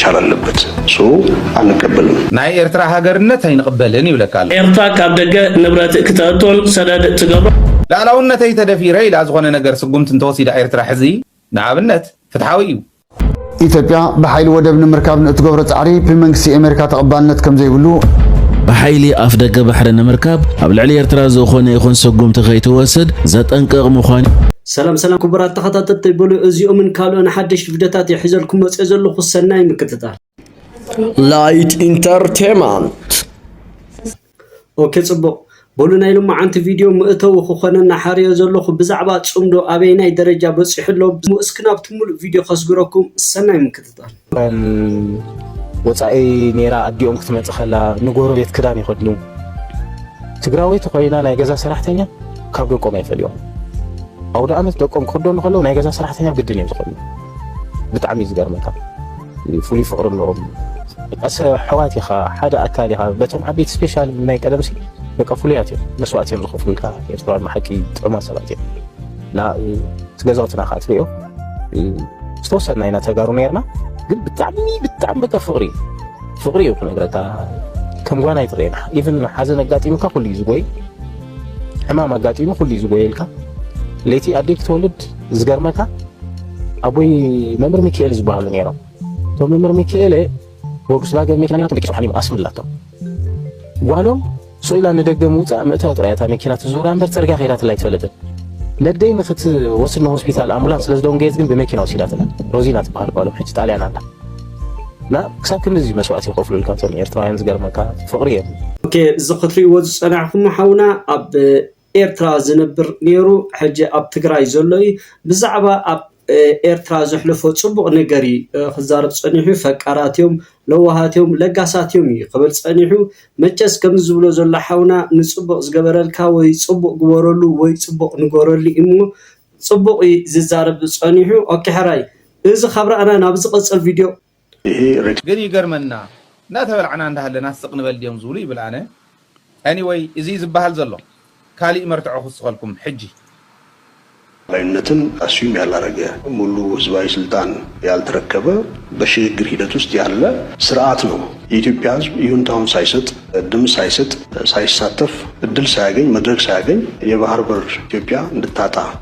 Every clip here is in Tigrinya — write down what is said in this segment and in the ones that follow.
መሻር ኣለበት ሶ ኣንቀበልን። ናይ ኤርትራ ሃገርነት ኣይንቕበልን ይብለካ ኣሎ። ኤርትራ ካብ ደገ ንብረት ክተእቶን ሰደድ ትገብሮ። ልኣላውነተይ ተደፊረ ኢላ ዝኾነ ነገር ስጉምቲ እንተወሲዳ ኤርትራ ሕዚ ንኣብነት ፍትሓዊ እዩ። ኢትዮጵያ ብሓይሊ ወደብ ንምርካብ ንእትገብሮ ጻዕሪ ብመንግስቲ ኤሜሪካ ተቐባልነት ከምዘይብሉ ብሓይሊ ኣፍ ደገ ባሕሪ ንምርካብ ኣብ ልዕሊ ኤርትራ ዝኾነ ይኹን ስጉምቲ ከይትወስድ ዘጠንቅቕ ምዃኑ ሰላም ሰላም ኩቡራት ተኸታተልተይ በሉ እዚኦምን ካልኦን ሓደሽቲ ቪድዮታት እየ ሒዘልኩም መፅኦ ዘለኹ ሰናይ ምክትታል ላይት ኢንተርቴንመንት ኦኬ ጽቡቕ በሉ ናይ ሎማዓንቲ ቪድዮ መእተዊ ክኾነና ሓርዮ ዘለኹ ብዛዕባ ጽምዶ ኣበይናይ ደረጃ በጺሑ ኣሎ እስኪ ናብቲ ሙሉእ ቪድዮ ከስግረኩም ሰናይ ምክትታል እቶም ወፃኢ ኔራ ኣዲኦም ክትመፅእ ከላ ንጎረቤት ክዳን ይኸድኑ። ትግራወይቲ ኮይና ናይ ገዛ ሰራሕተኛ ካብ ደቆም ኣይፈልዮም። ኣውደኣመት ደቆም ክኽደኑ ከለዉ ናይ ገዛ ሰራሕተኛ ግድን እዮም ዝኸድኑ። ብጣዕሚ እዩ ዝገርመካ። ፍሉይ ፍቕሪ ኣለዎም። ኣሕዋት ኢኻ ሓደ ኣካል ኢኻ በቶም ዓበይቲ ስፔሻል ናይ ቀደም ሲ በቃ ፍሉያት እዮም መስዋእቲ እዮም ዝኸፍሉልካ ኤርትራውያን መሓቂ ጥዑማት ሰባት እዮም እቲ ገዛውትና ከዓ ትሪኦ ዝተወሰና ኢና ተጋሩ ነርና ግን ብጣዕሚ ብጣዕሚ በቃ ፍቅሪ ፍቅሪ እዩ ክነግረካ ከም ጓና ይጥሬና ኢቨን ሓዘን ኣጋጢሙካ ኩሉ እዩ ዝጎይ ሕማም ኣጋጢሙ ኩሉ እዩ ዝጎየልካ ለይቲ ኣደይ ክትወልድ ዝገርመካ ኣቦይ መምህር ሚካኤል ዝበሃሉ ነይሮም እቶም መምህር ሚካኤል ወጉስላገ ምክንያቱ ደቂ ስብሓን ይምኣስም ኣላቶም ጓሎም ሱቕ ኢላ ንደገ ምውጻእ ምእታው ጥራይ እያ እታ መኪና ትዝውራ እምበር ጽርግያ ከይዳትላ ኣይትፈልጥን። ነደይ ንኽትወስድ ንሆስፒታል ኣምቡላንስ ስለ ዝደንገየት ግን ብመኪና ወሲዳትና። ሮዚና ትበሃል ጓሎም ሕጂ ጣልያን ኣላ እና ክሳብ ክንድዚ እዩ መስዋእቲ ይኸፍሉልካ እቶም ኤርትራውያን ዝገርመካ ፍቕሪ እዮም። ኦኬ እዚ ክትሪእዎ ዝጸናሕኩም ሓውና ኣብ ኤርትራ ዝነብር ኔሩ ሕጂ ኣብ ትግራይ ዘሎ እዩ ብዛዕባ ኣብ ኤርትራ ዘሕለፎ ጽቡቅ ነገር እዩ ክዛረብ ጸኒሑ ፈቃራት እዮም ለዋሃት እዮም ለጋሳት እዮም እዩ ክብል ጸኒሑ መቸስ ከምዚ ዝብሎ ዘሎ ሓውና ንጽቡቅ ዝገበረልካ ወይ ጽቡቅ ግበረሉ ወይ ጽቡቅ ንገረሉ እሞ ጽቡቅ እዩ ዝዛረብ ጸኒሑ ኦኬ ሕራይ እዚ ካብ ራእና ናብ ዝቅጽል ቪድዮ ግን ይገርመና እንዳተበላዕና እንዳሃለና ስቅ ንበል ድዮም ዝብሉ ይብል ኣነ Anyway እዚ ዝባሃል ዘሎ ካሊእ መርትዖ ክውስኸልኩም ሕጂ። ኣድላይነትን ኣስዩም ያላረገ ሙሉ ህዝባዊ ስልጣን ያልተረከበ በሽግግር ሂደት ውስጥ ያለ ስርኣት ነው። የኢትዮጵያ ህዝብ ይሁንታውን ሳይሰጥ፣ ድምፅ ሳይሰጥ፣ ሳይሳተፍ፣ እድል ሳያገኝ፣ መድረክ ሳያገኝ የባህር በር ኢትዮጵያ እንድታጣ፣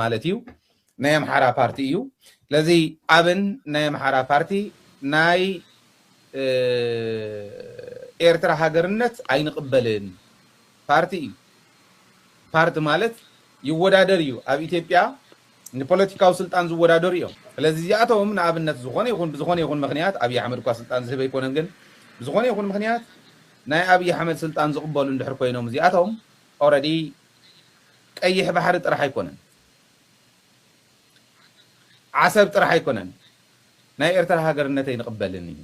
ማለት እዩ ናይ ኣምሓራ ፓርቲ እዩ ስለዚ ኣብን ናይ ኣምሓራ ፓርቲ ናይ ኤርትራ ሃገርነት ኣይንቕበልን ፓርቲ እዩ ፓርቲ ማለት ይወዳደር እዩ ኣብ ኢትዮጵያ ንፖለቲካዊ ስልጣን ዝወዳደሩ እዮም ስለዚ እዚኣቶም ንኣብነት ዝኾነ ይኹን ብዝኾነ ይኹን ምክንያት ኣብዪ ኣሕመድ እኳ ስልጣን ዝህበ ኣይኮነን ግን ብዝኾነ ይኹን ምክንያት ናይ ኣብዪ ኣሕመድ ስልጣን ዝቕበሉ እንድሕር ኮይኖም እዚኣቶም ኦረዲ ቀይሕ ባሕሪ ጥራሕ ኣይኮነን ዓሰብ ጥራሕ ኣይኮነን ናይ ኤርትራ ሃገርነት ኣይንቅበልን እዩ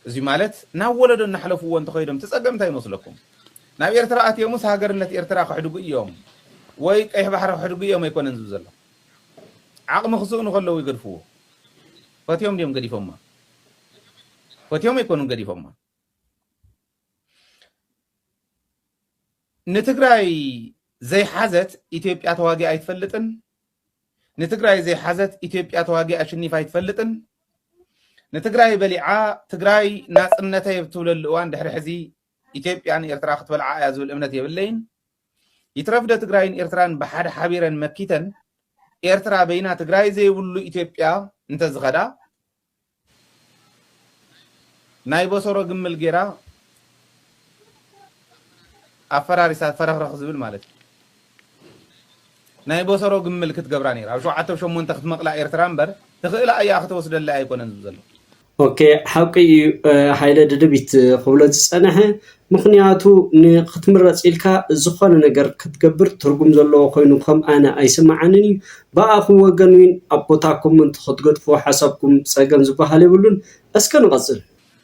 እዚ ማለት ናብ ወለዶ እናሕለፍዎ እንተኸይዶም እቲ ጸገም እንታይ ይመስለኩም ናብ ኤርትራ ኣትዮምስ ሃገርነት ኤርትራ ክሕድጉ እዮም ወይ ቀይሕ ባሕሪ ክሕድጉ እዮም ኣይኮነን ዝብ ዘሎ ዓቕሚ ክስእኑ ከለዉ ይገድፍዎ ፈትዮም ድዮም ገዲፎማ ፈትዮም ኣይኮኑን ገዲፎማ ንትግራይ ዘይሓዘት ኢትዮጵያ ተዋጊኣ ኣይትፈልጥን። ንትግራይ ዘይሓዘት ኢትዮጵያ ተዋጊኣ ኣሸኒፋ ኣይትፈልጥን። ንትግራይ በሊዓ ትግራይ ናፅነተይ ኣብ ትብለሉ እዋን ድሕሪ ሕዚ ኢትዮጵያ ንኤርትራ ክትበልዓ እያ ዝብል እምነት የብለይን። ይትረፍደ ትግራይን ኤርትራን ብሓደ ሓቢረን መኪተን ኤርትራ በይና ትግራይ ዘይብሉ ኢትዮጵያ እንተዝኸዳ ናይ ቦሶሮ ግምል ጌራ ኣፈራሪሳ ፈረኽረኽ ዝብል ማለት እዩ ናይ ቦሶሮ ግምል ክትገብራ ኔራ ኣብ ሸውዓተ ብ ሸሞንተ ክትመቅላ ኤርትራ እምበር ትኽእላ ኣያ ክትወስደላ ኣይኮነን ዝብል ዘሎ። ኦኬ ሓቂ ኢዩ ሃይለ ድድቢት ክብሎ ዝጸነሐ ምኽንያቱ ንኽትምረጽ ኢልካ ዝኾነ ነገር ክትገብር ትርጉም ዘለዎ ኮይኑ ከም ኣነ ኣይስመዓንን እዩ። ብኣኹም ወገን ዊን ኣብ ቦታ ኮመንት ክትገድፍዎ ሓሳብኩም ጸገም ዝበሃል የብሉን። እስከ ንቐጽል።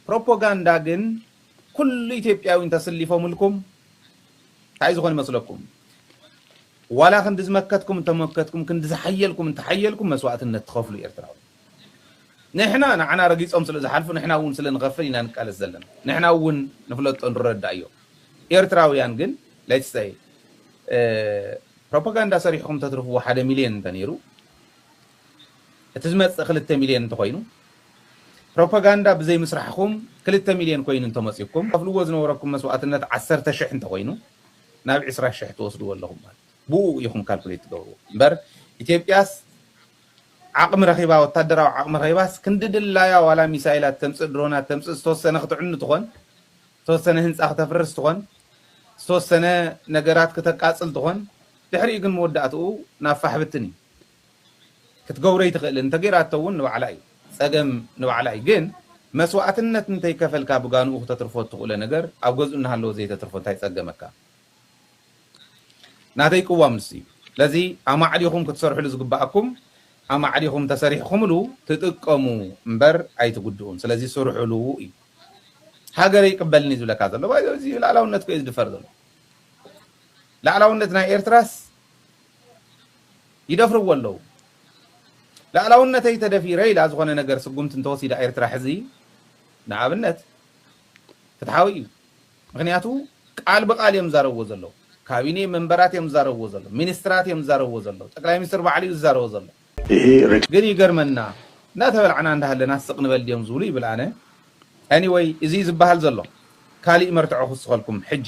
ፕሮፖጋንዳ ግን ኩሉ ኢትዮጵያዊ እንተስሊፎምልኩም ታይ ዝኾን ይመስለኩም? ዋላ ክንዲ ዝመከትኩም እንተመከትኩም ክንዲ ዝሓየልኩም እንተሓየልኩም መስዋእትነት ትኸፍሉ ኤርትራዊ። ንሕና ንዓና ረጊጾም ስለ ዝሓልፉ ንሕና እውን ስለ ንኸፍል ኢና ንቃለስ ዘለና ንሕና እውን ንፍለጦ ንረዳእዮ ኤርትራውያን ግን let's say ፕሮፓጋንዳ ሰሪሕኹም ተትርፍዎ ሓደ ሚልዮን እንተነይሩ እቲ ዝመጽእ ክልተ ሚልዮን እንተኾይኑ ፕሮፓጋንዳ ብዘይ ምስራሕኹም ክልተ ሚልዮን ኮይኑ እንተመጺኩም ከፍልዎ ዝነበረኩም መስዋእትነት ዓሰርተ ሽሕ እንተኾይኑ ናብ ዕስራ ሽሕ ትወስድዎ ኣለኹም ማለት ብኡ ኢኹም ካልኩሌት ትገብርዎ እምበር ኢትዮጵያስ ዓቕሚ ረኺባ ወታደራዊ ዓቕሚ ረኺባስ ክንዲ ድላያ ዋላ ሚሳይላት ተምጽእ ድሮናት ተምጽእ ዝተወሰነ ክትዕኑ ትኾን ዝተወሰነ ህንጻ ክተፍርስ ትኾን ዝተወሰነ ነገራት ክተቃጽል ትኾን ድሕሪኡ ግን መወዳእትኡ ናብ ፋሕ ብትን እዩ ክትገብሮ ኣይትኽእልን እንተገይራቶ እውን ንባዕላ እዩ ጸገም ንባዕላ እዩ ግን መስዋእትነት እንተይከፈልካ ብጋንኡ ክተትርፎ እትኽእሎ ነገር ኣብ ገዝኡ እናሃለወ ዘይተትርፎ እንታይ ጸገመካ ናተይ ቅዋም ንሱ እዩ ስለዚ ኣማዕዲኹም ክትሰርሕሉ ዝግበኣኩም ኣማዕዲኹም ተሰሪሕኹምሉ ትጥቀሙ እምበር ኣይትጉድኡን ስለዚ ስርሑሉ እዩ ሃገረይ ይቅበልኒ ዝብለካ ዘሎ ባይ እዚ ላዕላውነት ኮዩ ዝድፈር ዘሎ ላዕላውነት ናይ ኤርትራስ ይደፍርዎ ኣለዉ ላዕላውነተይ ተደፊረ ኢላ ዝኾነ ነገር ስጉምቲ እንተወሲዳ ኤርትራ ሕዚ ንኣብነት ፍትሓዊ እዩ ምኽንያቱ ቃል ብቃል እዮም ዝዛረብዎ ዘለዉ ካቢኔ መንበራት እዮም ዝዛረብዎ ዘለዉ ሚኒስትራት እዮም ዝዛረብዎ ዘለዉ ጠቅላይ ሚኒስትር ባዕሉ እዩ ዝዛረቦ ዘሎ ግን ይገርመና እንዳተበላዕና እንዳሃለና ስቅ ንበል ድዮም ዝብሉ ይብል ኣነ Anyway እዚ እዩ ዝባሃል ዘሎ ካሊእ መርትዖ ክውስኸልኩም ሕጂ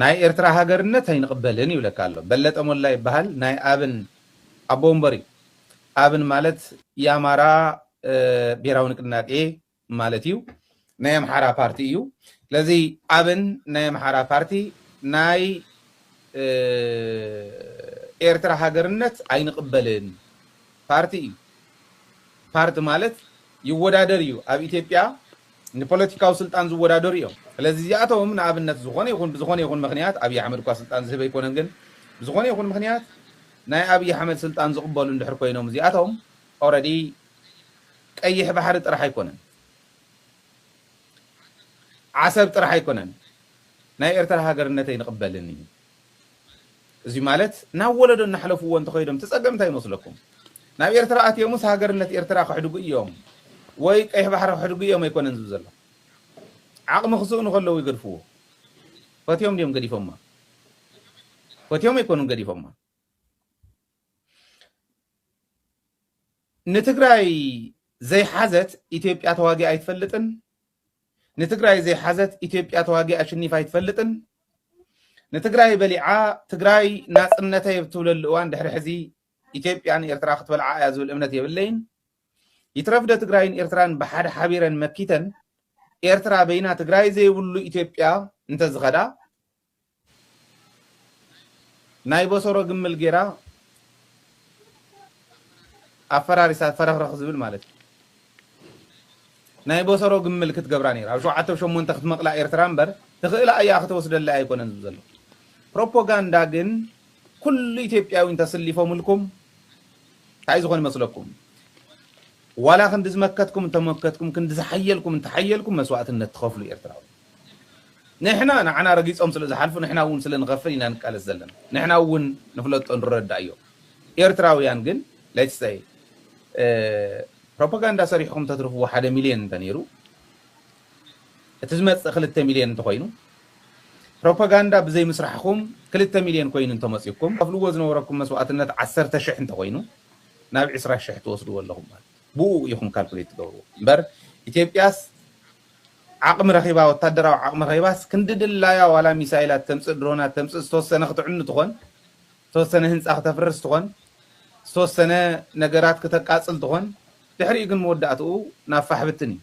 ናይ ኤርትራ ሃገርነት ኣይንቅበልን ይብለካ ኣሎ በለጠ ሞላ ይብሃል ናይ ኣብን ኣቦ ወንበር እዩ ኣብን ማለት ያማራ ብሄራዊ ንቅናቄ ማለት እዩ ናይ ኣምሓራ ፓርቲ እዩ ስለዚ ኣብን ናይ ኣምሓራ ፓርቲ ናይ ኤርትራ ሃገርነት ኣይንቅበልን ፓርቲ እዩ ፓርቲ ማለት ይወዳደር እዩ ኣብ ኢትዮጵያ ንፖለቲካዊ ስልጣን ዝወዳደሩ እዮም ስለዚ እዚኣቶም ንኣብነት ዝኾነ ይኹን ብዝኾነ ይኹን ምኽንያት ኣብይ ኣሕመድ እኳ ስልጣን ዝህብ ኣይኮነን ግን ብዝኾነ ይኹን ምኽንያት ናይ ኣብይ ኣሕመድ ስልጣን ዝቕበሉ እንድሕር ኮይኖም እዚኣቶም ኦረዲ ቀይሕ ባሕሪ ጥራሕ ኣይኮነን ዓሰብ ጥራሕ ኣይኮነን ናይ ኤርትራ ሃገርነት ኣይንቕበልን እዩ እዚ ማለት ናብ ወለዶ እናሕለፍዎ እንተኸይዶም እቲ ጸገም እንታይ ይመስለኩም? ናብ ኤርትራ ኣትዮምስ ሃገርነት ኤርትራ ከሕድጉ እዮም ወይ ቀይሕ ባሕሪ ከሕድጉ እዮም ኣይኮነን ዝብል ዘሎ። ዓቕሚ ክስእኑ ከለዉ ይገድፍዎ። ፈትዮም ድዮም ገዲፎማ? ፈትዮም ኣይኮኑን ገዲፎማ። ንትግራይ ዘይሓዘት ኢትዮጵያ ተዋጊኣ ኣይትፈልጥን። ንትግራይ ዘይሓዘት ኢትዮጵያ ተዋጊኣ ኣሽኒፋ ኣይትፈልጥን። ንትግራይ በሊዓ ትግራይ ናፅነተይ ኣብ ትብለሉ እዋን ድሕሪ ሕዚ ኢትዮጵያ ንኤርትራ ክትበልዓ እያ ዝብል እምነት የብለይን። ይትረፍዶ ትግራይን ኤርትራን ብሓደ ሓቢረን መኪተን ኤርትራ በይና ትግራይ ዘይብሉ ኢትዮጵያ እንተዝኸዳ ናይ ቦሶሮ ግምል ጌራ ኣፈራሪሳ ፈረኽረኽ ዝብል ማለት እዩ ናይ ቦሶሮ ግምል ክትገብራ ኔራ ኣብ ሸውዓተ ብ ሸሞንተ ክትመቅላ ኤርትራ እምበር ትኽእላ ኣያ ክተወስደላ ኣይኮነን ዝብ ዘሎ ፕሮፖጋንዳ ግን ኩሉ ኢትዮጵያዊ እንተስሊፎምልኩም ታይ ዝኾን ይመስለኩም ዋላ ክንዲ ዝመከትኩም እንተመከትኩም ክንዲ ዝሓየልኩም እንተሓየልኩም መስዋእትነት ትኸፍሉ ኤርትራዊ ንሕና ንዓና ረጊጾም ስለ ዝሓልፉ ንሕና እውን ስለ ንኸፍል ኢና ንቃለስ ዘለና ንሕና እውን ንፍለጦ ንረዳእዮ ኤርትራውያን ግን let's say ፕሮፓጋንዳ ሰሪሕኹም ተትርፍዎ ሓደ ሚልዮን እንተነይሩ እቲ ዝመጽእ ክልተ ሚልዮን እንተኾይኑ ፕሮፓጋንዳ ብዘይ ምስራሕኹም ክልተ ሚልዮን ኮይኑ እንተመጽዩኩም ከፍልዎ ዝነበረኩም መስዋእትነት ዓሰርተ ሽሕ እንተኾይኑ ናብ ዕስራ ሽሕ ትወስድዎ ኣለኹም ማለት ብኡ ኢኹም ካልኩሌት ትገብርዎ እምበር ኢትዮጵያስ ዓቕሚ ረኺባ ወታደራዊ ዓቕሚ ረኺባስ ክንዲ ድላያ ዋላ ሚሳይላት ተምጽእ ድሮናት ተምጽእ ዝተወሰነ ክትዕኑ ትኾን ዝተወሰነ ህንጻ ክተፍርስ ትኾን ዝተወሰነ ነገራት ክተቃጽል ትኾን ድሕሪኡ ግን መወዳእትኡ ናብ ፋሕ ብትን እዩ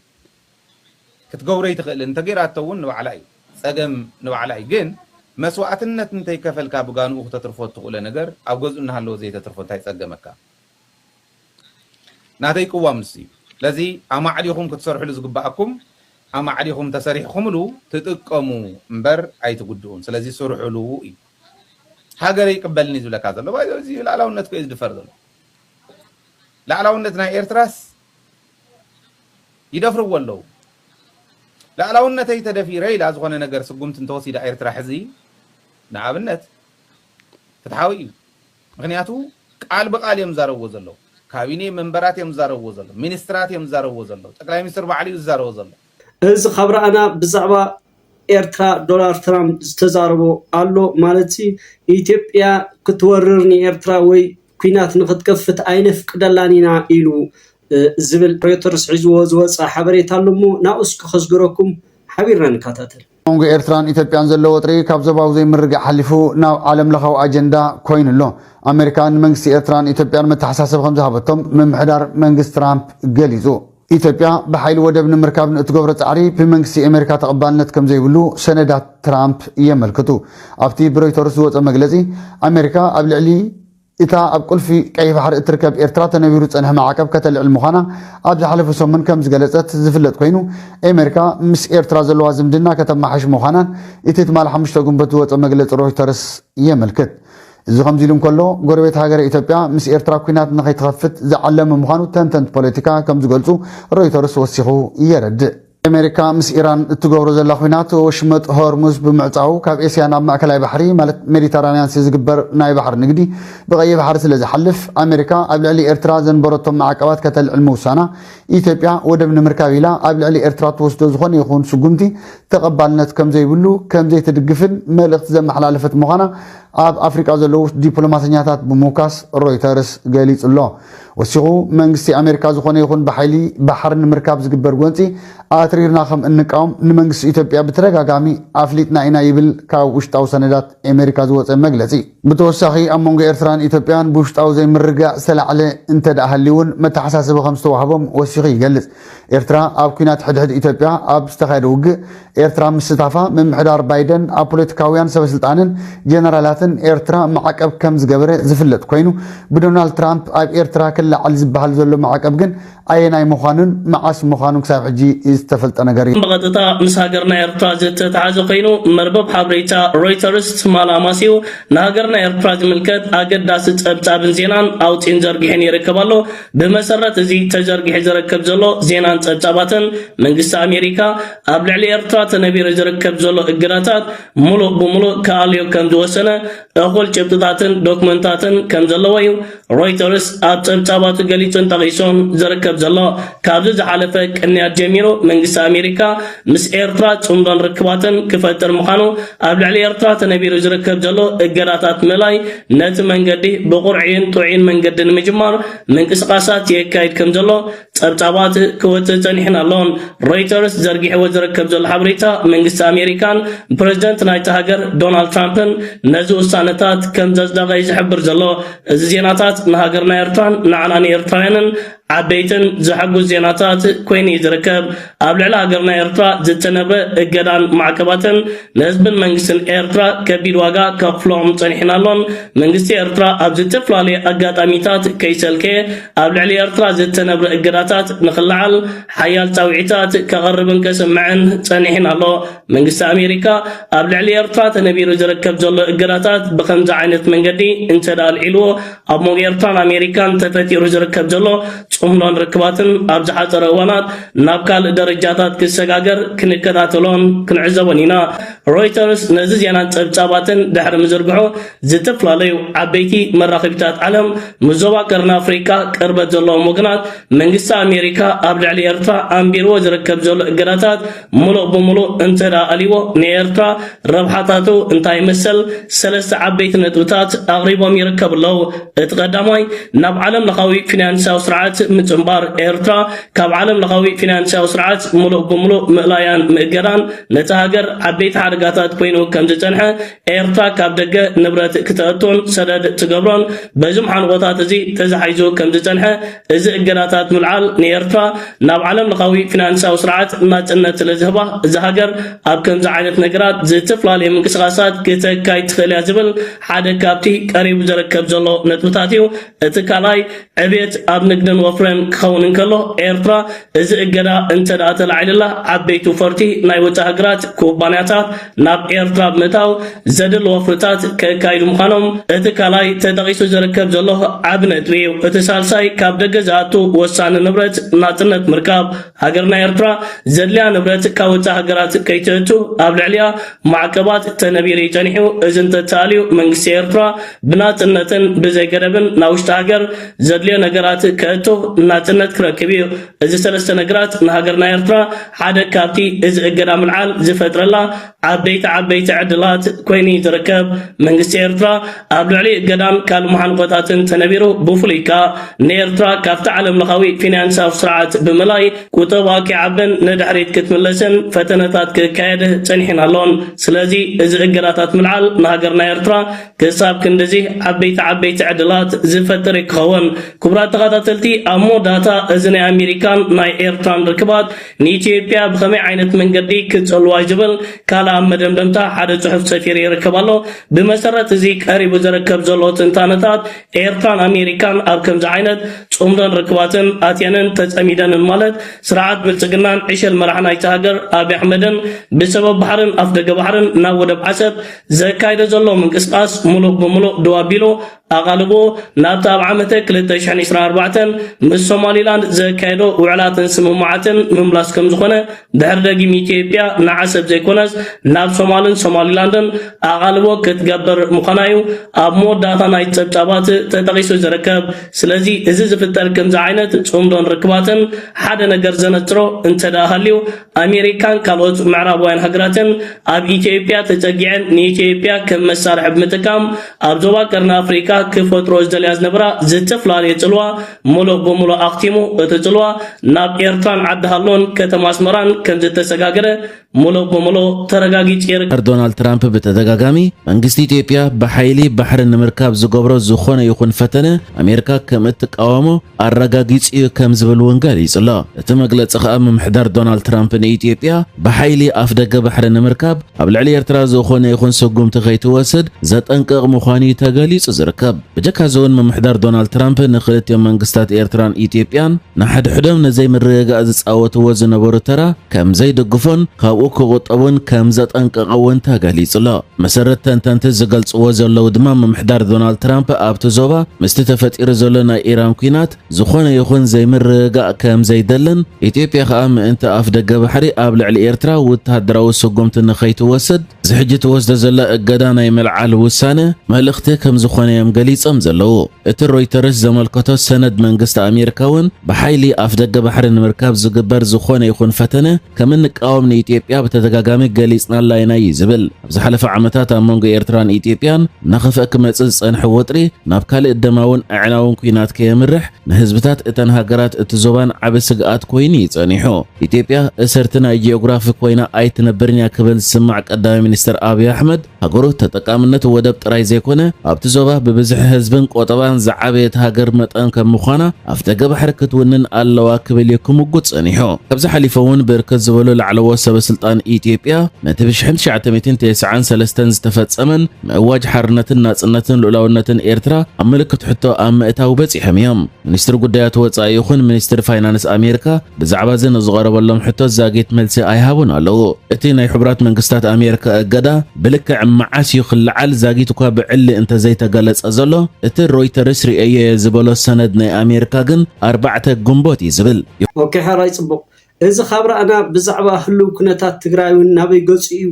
ክትገብሮ ኣይትኽእልን እንተጌራቶ እውን ንባዕላ እዩ ጸገም ንባዕላ እዩ ግን መስዋእትነት እንተይከፈልካ ብጋንኡ ክተትርፎ እትኽእሎ ነገር ኣብ ገዝኡ እናሃለወ ዘይተትርፎ እንታይ ጸገመካ ናተይ ቅዋም ንሱ እዩ ስለዚ ኣማዕዲኹም ክትሰርሕሉ ዝግበኣኩም ኣማዕዲኹም ተሰሪሕኹምሉ ትጥቀሙ እምበር ኣይትጉድኡን ስለዚ ስርሑሉ እዩ ሃገረይ ይቅበልኒ ዝብለካ ዘሎ ባይ እዚ ላዕላውነት ኮዩ ዝድፈር ዘሎ ላዕላውነት ናይ ኤርትራስ ይደፍርዎ ኣለዉ ላዕላውነተይ ተደፊረ ኢላ ዝኾነ ነገር ስጉምቲ እንተወሲዳ ኤርትራ ሕዚ ንኣብነት ፍትሓዊ እዩ ምኽንያቱ ቃል ብቃል እዮም ዝዛረብዎ ዘለዉ ካቢኔ መንበራት እዮም ዝዛረብዎ ዘለዉ ሚኒስትራት እዮም ዝዛረብዎ ዘለዉ ጠቅላይ ሚኒስትር ባዕሉ እዩ ዝዛረቦ ዘሎ። እዚ ካብ ረኣና ብዛዕባ ኤርትራ ዶላር ትራምፕ ዝተዛረቦ ኣሎ ማለትሲ ኢትዮጵያ ክትወርር ንኤርትራ ወይ ኩናት ንክትከፍት ኣይነፍቅደላን ኢና ኢሉ ዝብል ሮይተርስ ሒዝዎ ዝወጸ ሓበሬታ ኣሎሞ ናብኡ እስኪ ከስግረኩም ሓቢርና ንካታተል። መንጎ ኤርትራን ኢትዮጵያን ዘሎ ወጥሪ ካብ ዞባዊ ዘይምርግጋእ ሓሊፉ ናብ ዓለም ለኻዊ ኣጀንዳ ኮይኑ ኣሎ። ኣመሪካ ንመንግስቲ ኤርትራን ኢትዮጵያን መተሓሳሰቢ ከምዝሃበቶም ምምሕዳር መንግስቲ ትራምፕ ገሊጹ። ኢትዮጵያ ብሓይሊ ወደብ ንምርካብ ንእትገብሮ ጻዕሪ ብመንግስቲ ኤመሪካ ተቐባልነት ከምዘይብሉ ሰነዳት ትራምፕ የመልክቱ። ኣብቲ ብሮይተርስ ዝወጸ መግለጺ ኣመሪካ ኣብ ልዕሊ እታ ኣብ ቁልፊ ቀይሕ ባሕሪ እትርከብ ኤርትራ ተነቢሩ ዝጸንሐ ማዕቀብ ከተልዕል ምዃና ኣብ ዝሓለፈ ሰሙን ከም ዝገለጸት ዝፍለጥ ኮይኑ፣ ኤመሪካ ምስ ኤርትራ ዘለዋ ዝምድና ከተማሓይሽ ምዃናን እቲ ትማል ሓሙሽተ ግንቦት ዝወጸ መግለጺ ሮይተርስ የመልክት። እዚ ከምዚሉ እንከሎ፣ ጎረቤት ሃገረ ኢትዮጵያ ምስ ኤርትራ ኲናት ንኸይትኸፍት ዝዓለመ ምዃኑ ተንተንቲ ፖለቲካ ከም ዝገልጹ ሮይተርስ ወሲኹ የረድእ። ኣሜሪካ ምስ ኢራን እትገብሮ ዘላ ኲናት ወሽመጥ ሆርሙዝ ብምዕፃዉ ካብ ኤስያ ናብ ማእከላይ ባሕሪ ማለት ሜዲተራንያንሲ ዝግበር ናይ ባሕሪ ንግዲ ብቀይሕ ባሕሪ ስለዝሓልፍ ኣሜሪካ ኣብ ልዕሊ ኤርትራ ዘንበረቶም ማዕቀባት ከተልዕል ምውሳና ኢትዮጵያ ወደብ ንምርካብ ኢላ ኣብ ልዕሊ ኤርትራ ትወስዶ ዝኾነ ይኹን ስጉምቲ ተቐባልነት ከምዘይብሉ ከምዘይትድግፍን መልእኽቲ ዘመሓላለፈት ምዃና ኣብ ኣፍሪቃ ዘለዉ ዲፕሎማሰኛታት ብምውካስ ሮይተርስ ገሊጹ ኣሎ። ወሲኹ፣ መንግስቲ ኣሜሪካ ዝኾነ ይኹን ብሓይሊ ባሕሪ ንምርካብ ዝግበር ጎንፂ ኣትሪርና ከም እንቃወም ንመንግስቲ ኢትዮጵያ ብተደጋጋሚ ኣፍሊጥና ኢና ይብል ካብ ውሽጣዊ ሰነዳት ኣሜሪካ ዝወፀ መግለፂ። ብተወሳኺ ኣብ መንጎ ኤርትራን ኢትዮጵያን ብውሽጣዊ ዘይምርግጋእ ዝተላዕለ እንተድኣ ሃልዩ'ውን መተሓሳሰቢ ከም ዝተዋህቦም ወሲኹ ይገልፅ። ኤርትራ ኣብ ኲናት ሕድሕድ ኢትዮጵያ ኣብ ዝተኻየደ ውግእ ኤርትራ ምስታፋ ምምሕዳር ባይደን ኣብ ፖለቲካውያን ሰበስልጣንን ጀነራላትን ኤርትራ ማዕቀብ ከም ዝገበረ ዝፍለጥ ኮይኑ ብዶናልድ ትራምፕ ኣብ ኤርትራ ክለዓል ዝበሃል ዘሎ ማዕቀብ ግን ኣየናይ ምዃኑን መዓስ ምዃኑን ክሳብ ሕጂ ዝተፈልጠ ነገር እዩ። ብቐጥታ ምስ ሃገርና ኤርትራ ዝተተሓዘ ኮይኑ መርበብ ሓበሬታ ሮይተርስ ትማል ኣማሲኡ ንሃገርና ኤርትራ ዝምልከት ኣገዳሲ ጸብጻብን ዜናን ኣውጺኡን ዘርጊሑን ይርከብ ኣሎ። ብመሰረት እዚ ተዘርጊሑ ዝርከብ ዘሎ ዜናን ጸብጻባትን፣ መንግስቲ ኣሜሪካ ኣብ ልዕሊ ኤርትራ ተነቢሩ ዝርከብ ዘሎ እገዳታት ምሉእ ብምሉእ ክኣልዮ ከም ዝወሰነ እኹል ጭብጥታትን ዶክመንታትን ከም ዘለዎ'ዩ ሮይተርስ ኣብ ጸብጻባቱ ገሊጹን ጠቒሱን ዝርከብ ዘሎ። ካብዚ ዝሓለፈ ቅንያት ጀሚሩ መንግስቲ ኣሜሪካ ምስ ኤርትራ ጽምዶን ርክባትን ክፈጥር ምዃኑ ኣብ ልዕሊ ኤርትራ ተነቢሩ ዝርከብ ዘሎ እገዳታት ምእላይ ነቲ መንገዲ ብቑርዒን ጥዑይን መንገዲ ንምጅማር ምንቅስቓሳት የካይድ ከምዘሎ ጸብጻባት ክወጽእ ጸኒሑን ኣሎን። ሮይተርስ ዘርጊሕዎ ዝርከብ ዘሎ ሓበሬታ መንግስቲ ኣሜሪካን ፕረዚደንት ናይታ ሃገር ዶናልድ ትራምፕን ነዚ ውሳነታት ከምዘጽደቐ እዩ ዝሕብር ዘሎ። እዚ ዜናታት ንሃገርና ኤርትራን ንዓና ንኤርትራውያንን ዓበይትን ዘሐጉስ ዜናታት ኮይኑ እዩ ዝርከብ። ኣብ ልዕሊ ሃገርና ኤርትራ ዝተነብረ እገዳን ማዕቀባትን ንህዝብን መንግስትን ኤርትራ ከቢድ ዋጋ ከኽፍሎም ጸኒሑን ኣሎን። መንግስቲ ኤርትራ ኣብ ዝተፈላለዩ ኣጋጣሚታት ከይሰልከየ ኣብ ልዕሊ ኤርትራ ዝተነብረ እገዳታት ንኽለዓል ሓያል ጻውዒታት ከቕርብን ከስምዕን ጸኒሑን ኣሎ። መንግስቲ ኣሜሪካ ኣብ ልዕሊ ኤርትራ ተነቢሩ ዝርከብ ዘሎ እገዳታት ብኸምዚ ዓይነት መንገዲ እንተድኣ ኣልዒልዎ ኣብ መንጎ ኤርትራን ኣሜሪካን ተፈጢሩ ዝርከብ ዘሎ ጽምዶን ርክባትን ኣብ ዝሓጸረ እዋናት ናብ ካልእ ደረጃታት ክሰጋገር ክንከታተሎን ክንዕዘቦን ኢና። ሮይተርስ ነዚ ዜናን ጸብጻባትን ድሕሪ ምዝርግሑ ዝተፈላለዩ ዓበይቲ መራኸቢታት ዓለም ምስ ዞባ ቀርኒ ኣፍሪቃ ቅርበት ዘለዎም ወገናት መንግስቲ ኣሜሪካ ኣብ ልዕሊ ኤርትራ ኣንቢርዎ ዝርከብ ዘሎ እገዳታት ምሉእ ብምሉእ እንተድኣ ኣልይዎ ንኤርትራ ረብሓታቱ እንታይ መሰል ሰለስተ ዓበይቲ ነጥብታት ኣቕሪቦም ይርከቡ ኣለው። እቲ ቀዳማይ ናብ ዓለም ለኻዊ ፊናንስያዊ ስርዓት ምጽንባር ኤርትራ ካብ ዓለም ለኻዊ ፊናንስያዊ ስርዓት ምሉእ ብምሉእ ምእላያን ምእገዳን ነታ ሃገር ዓበይቲ ሓደጋታት ኮይኑ ከም ዝጸንሐ ኤርትራ ካብ ደገ ንብረት ክተእቱን ሰደድ ትገብሮን በዚ መሓንቖታት እዚ ተዛሒዙ ከም ዝጸንሐ እዚ እገዳታት ምልዓል ንኤርትራ ናብ ዓለም ለኻዊ ፊናንስያዊ ስርዓት ናጽነት ስለ ዝህባ እዛ ሃገር ኣብ ከምዚ ዓይነት ነገራት ዝተፈላለዩ ምንቅስቓሳት ክተካይድ ትኽእል እያ ዝብል ሓደ ካብቲ ቀሪቡ ዝርከብ ዘሎ ነጥብታት እዩ። እቲ ካልኣይ ዕብየት ኣብ ንግድን ወፍርን ክኸውን እንከሎ ኤርትራ እዚ እገዳ እንተድኣ ተላዒልላ ዓበይቲ ወፈርቲ ናይ ወጻኢ ሃገራት ኩባንያታት ናብ ኤርትራ ብምእታው ዘድሊ ወፍርታት ከካይዱ ምዃኖም እቲ ካልኣይ ተጠቒሱ ዝርከብ ዘሎ ዓቢ ነጥቢ እዩ። እቲ ሳልሳይ ካብ ደገ ዝኣቱ ወሳኒ ንብረት ናጽነት ምርካብ፣ ሃገርና ኤርትራ ዘድልያ ንብረት ካብ ወጻኢ ሃገራት ከይተእቱ ኣብ ልዕሊኣ ማዕቀባት ተነቢሩ እዩ ጸኒሑ፣ እዚ እንተተኣልዩ መንግስቲ ኤርትራ ብናጽነትን ብዘይ ገደብን ናብ ውሽጢ ሃገር ዘድልዮ ነገራት ከእቱ ናጽነት ክረክብ እዩ። እዚ ሰለስተ ነግራት ንሃገርና ኤርትራ ሓደ ካብቲ እዚ እገዳ ምልዓል ዝፈጥረላ ዓበይቲ ዓበይቲ ዕድላት ኮይኑ እዩ ዝርከብ። መንግስቲ ኤርትራ ኣብ ልዕሊ እገዳን ካልእ መሓንቆታትን ተነቢሩ ብፍሉይ ከኣ ንኤርትራ ካብቲ ዓለምለኻዊ ፊንያንሳዊ ስርዓት ብምላይ ቁጠባኣ ኪዓብን ንድሕሪት ክትምለስን ፈተነታት ክካየድ ጸኒሑን ኣሎን። ስለዚ እዚ እገዳታት ምልዓል ንሃገርና ኤርትራ ክሳብ ክንድዚ ዓበይቲ ዓበይቲ ዕድላት ዝፈጥር ክኸውን። ክቡራት ተኻታተልቲ ኣብ መወዳእታ እዚ ናይ ኣሜሪካን ናይ ኤርትራን ርክባት ንኢትዮጵያ ብኸመይ ዓይነት መንገዲ ክትጸልዋዩ ዝብል ካልእ ኣብ መደምደምታ ሓደ ጽሑፍ ሰፊሩ ይርከብ ኣሎ። ብመሰረት እዚ ቀሪቡ ዝርከብ ዘሎ ትንታነታት ኤርትራን ኣሜሪካን ኣብ ከምዚ ዓይነት ጽምዶን ርክባትን ኣትየንን ተጸሚደንን ማለት ስርዓት ብልጽግናን ዕሸል መራሒ ናይታ ሃገር ኣብይ ኣሕመድን ብሰበብ ባሕርን ኣፍደገ ባሕርን ናብ ወደብ ዓሰብ ዘካይዶ ዘሎ ምንቅስቓስ ምሉእ ብምሉእ ደው ኣቢሉ ኣቓልቦ ናብቲ ኣብ ዓመተ 2024 ምስ ሶማሊላንድ ዘካየዶ ውዕላትን ስምምዓትን ምምላስ ከም ዝኾነ ድሕሪ ደጊም ኢትዮጵያ ንዓሰብ ዘይኮነስ ናብ ሶማልን ሶማሊላንድን ኣቓልቦ ክትገብር ምዃና እዩ ኣብ መወዳእታ ናይ ጸብጻባት ተጠቒሱ ዝርከብ። ስለዚ እዚ ዝፍጠር ከምዚ ዓይነት ጽምዶን ርክባትን ሓደ ነገር ዘነጽሮ እንተደኣ ሃልዩ ኣሜሪካን ካልኦት ምዕራባውያን ሃገራትን ኣብ ኢትዮጵያ ተጸጊዐን ንኢትዮጵያ ከም መሳርሒ ብምጥቃም ኣብ ዞባ ቀርኒ ኣፍሪቃ ክፈጥሮ ዝደልያ ዝነበራ ዝተፈላለየ ጽልዋ ምሉእ ብምሉእ ኣኽቲሙ እቲ ጽልዋ ናብ ኤርትራን ዓዲ ሃሎን ከተማ ኣስመራን ከም ዝተሰጋገረ ምሉእ ብምሉእ ተረጋጊጹ ይርከብ። ዶናልድ ትራምፕ ብተደጋጋሚ መንግስቲ ኢትዮጵያ ብሓይሊ ባሕሪ ንምርካብ ዝገብሮ ዝኾነ ይኹን ፈተነ ኣሜሪካ ከም እትቃወሞ ኣረጋጊጹ'ዩ ከም ዝብል እውን ገሊጹ'ሎ። እቲ መግለጺ ከኣ ምምሕዳር ዶናልድ ትራምፕ ንኢትዮጵያ ብሓይሊ ኣፍደገ ባሕሪ ንምርካብ ኣብ ልዕሊ ኤርትራ ዝኾነ ይኹን ስጉምቲ ከይትወስድ ዘጠንቅቕ ምዃኑ'ዩ ተገሊጹ ዝርከብ። ብጀካ'ዚ'ውን ምምሕዳር ዶናልድ ትራምፕ ንክልቲኦም መንግስታት ኤርትራን ኢትዮጵያን ንሓድሕዶም ንዘይምርግጋእ ዝጻወትዎ ዝነበሩ ተራ ከም ዘይድግፎን ካብኡ ክቑጠብን ከም ዘጠንቀቐ እውን ተገሊጹ'ሎ። መሰረት ተንተንቲ ዝገልጽዎ ዘለዉ ድማ ምምሕዳር ዶናልድ ትራምፕ ኣብቲ ዞባ ምስቲ ተፈጢሩ ዘሎ ናይ ኢራን ኲናት ዝኾነ ይኹን ዘይምርግጋእ ከም ዘይደልን ኢትዮጵያ ከኣ ምእንቲ ኣፍደገ ባሕሪ ኣብ ልዕሊ ኤርትራ ውተሃደራዊ ስጉምቲ ንኸይትወስድ እዚ ሕጂ ተወስደ ዘላ እገዳ ናይ ምልዓል ውሳነ መልእኽቲ ከም ዝኾነ እዮም ገሊጾም ዘለዉ። እቲ ሮይተርስ ዘመልከቶ ሰነድ መንግስቲ ኣሜሪካ እውን ብሓይሊ ኣፍደገ ባሕሪ ንምርካብ ዝግበር ዝኾነ ይኹን ፈተነ ከም እንቃወም ንኢትዮጵያ ብተደጋጋሚ ገሊጽናላ ኢና እዩ ዝብል። ኣብ ዝሓለፈ ዓመታት ኣብ መንጎ ኤርትራን ኢትዮጵያን እናኸፍአ ክመጽእ ዝጸንሐ ወጥሪ ናብ ካልእ ደማውን ኣዕናውን ኲናት ከየምርሕ ንህዝብታት እተን ሃገራት እቲ ዞባን ዓቢ ስግኣት ኮይኑ እዩ ጸኒሑ። ኢትዮጵያ እሰርቲ ናይ ጂኦግራፊ ኮይና ኣይትነብርን እያ ክብል ዝስማዕ ቀዳማይ ሚኒስተር ኣብይ ኣሕመድ፣ ሃገሩ ተጠቃምነት ወደብ ጥራይ ዘይኮነ ኣብቲ ዞባ ብብዝሒ ህዝብን ቆጠባን ዝዓበየት ሃገር መጠን ከም ምዃና ኣፍደገ ባሕሪ ክትውንን ኣለዋ ክብል እዩ ክምጉት ጸኒሑ። ካብዚ ሓሊፉ እውን ብርክት ዝበሉ ላዕለዎት ሰበስልጣን ኢትዮጵያ ነቲ ብ ሽሕን ትሽዓተ ሚእትን ቴስዓን ሰለስተን ዝተፈጸመን ምእዋጅ ሓርነትን ናጽነትን ልኡላውነትን ኤርትራ ኣብ ምልክት ሕቶ ኣብ ምእታው በጺሖም እዮም። ሚኒስትሪ ጉዳያት ወጻኢ ይኹን ሚኒስትሪ ፋይናንስ ኣሜርካ ብዛዕባ'ዚ ንዝቐረበሎም ሕቶ ዛጊት መልሲ ኣይሃቡን ኣለዉ። እቲ ናይ ሕቡራት መንግስታት ኣሜርካ እገዳ ብልክዕ መዓስ እዩ ክለዓል ዛጊት'ኳ ብዕሊ እንተዘይተገለጸ ዘሎ፣ እቲ ሮይተርስ ርእየዮ'የ ዝበሎ ሰነድ ናይ ኣሜርካ ግን ኣርባዕተ ግንቦት እዩ ዝብል። ኦኬ ሐራይ ጽቡቅ እዚ ካብ ረኣና ብዛዕባ ህሉው ኩነታት ትግራይ ውን ናበይ ገጹ እዩ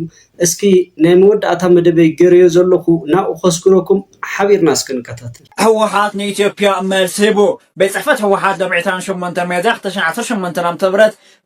እስኪ ናይ መወዳእታ መደበይ ገረዮ ዘለኹ ናብኡ ከስግረኩም ሓቢርና እስኪ ንከታተል። ህወሓት ንኢትዮጵያ መልሲ ሂቡ። ቤት ፅሕፈት ህወሓት ሎሚ ዕስራን ሸሞንተን ሚያዝያ ክልተ ሽሕን ዓሰርተ ሸሞንተን ዓ ም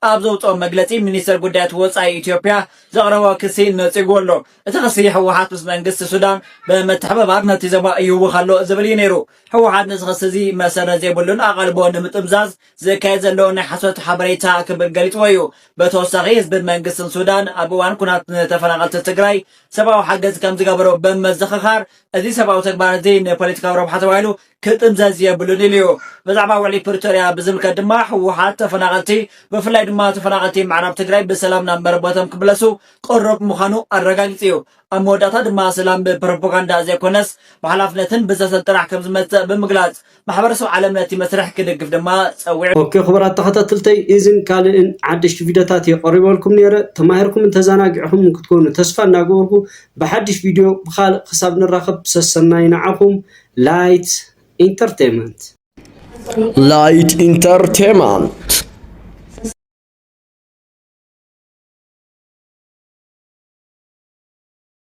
ኣብ ዘውፅኦ መግለፂ ሚኒስቴር ጉዳያት ወፃኢ ኢትዮጵያ ዘቕረቦ ክሲ ነፂጉዎ ኣሎ። እቲ ክሲ ህወሓት ምስ መንግስቲ ሱዳን ብምትሕብባር ነቲ ዞባ ይህውኽ ኣሎ ዝብል እዩ ነይሩ። ህወሓት ነዚ ክሲ እዚ መሰረት ዘይብሉን ኣቓልቦ ንምጥምዛዝ ዝካየድ ዘሎ ናይ ሓሶት ሓበሬታ ክብል ገሊጽዎ እዩ። ብተወሳኺ ህዝብን መንግስትን ሱዳን ኣብ እዋን ኩናት ንተፈናቐልቲ ትግራይ ሰብኣዊ ሓገዝ ከምዝገበሩ ብምዝኽኻር እዚ ሰብኣዊ ተግባር እዚ ንፖለቲካዊ ረብሓ ተባሂሉ ክጥምዘዝ የብሉን ኢሉ እዩ። ብዛዕባ ውዕሊ ፕሪቶርያ ብዝምልከት ድማ ህወሓት ተፈናቐልቲ ብፍላይ ድማ ተፈናቐልቲ ምዕራብ ትግራይ ብሰላም ናብ መረበቶም ክምለሱ ቅሩብ ምዃኑ ኣረጋጊጹ እዩ። ኣብ መወዳእታ ድማ ሰላም ብፕሮፖጋንዳ ዘይኮነስ ብሓላፍነትን ብዘተን ጥራሕ ከምዝመጽእ ብምግላጽ ማሕበረሰብ ዓለም ነቲ መስርሕ ክድግፍ ድማ ጸዊዑ። ኦኬ ክቡራት ተኸታተልተይ ኢዚን ካልእን ሓደሽቲ ቪድዮታት ኢየ ቀሪበልኩም ኔረ ተማሂርኩምን ተዛናጊዕኹምን ክትኮኑ ተስፋ እንዳገበርኩ ብሓድሽ ቪድዮ ብኻልእ ክሳብ ንራኸብ ሰሰናዩ ንዓኹም ላይት ኢንተርቴመንት። Light Entertainment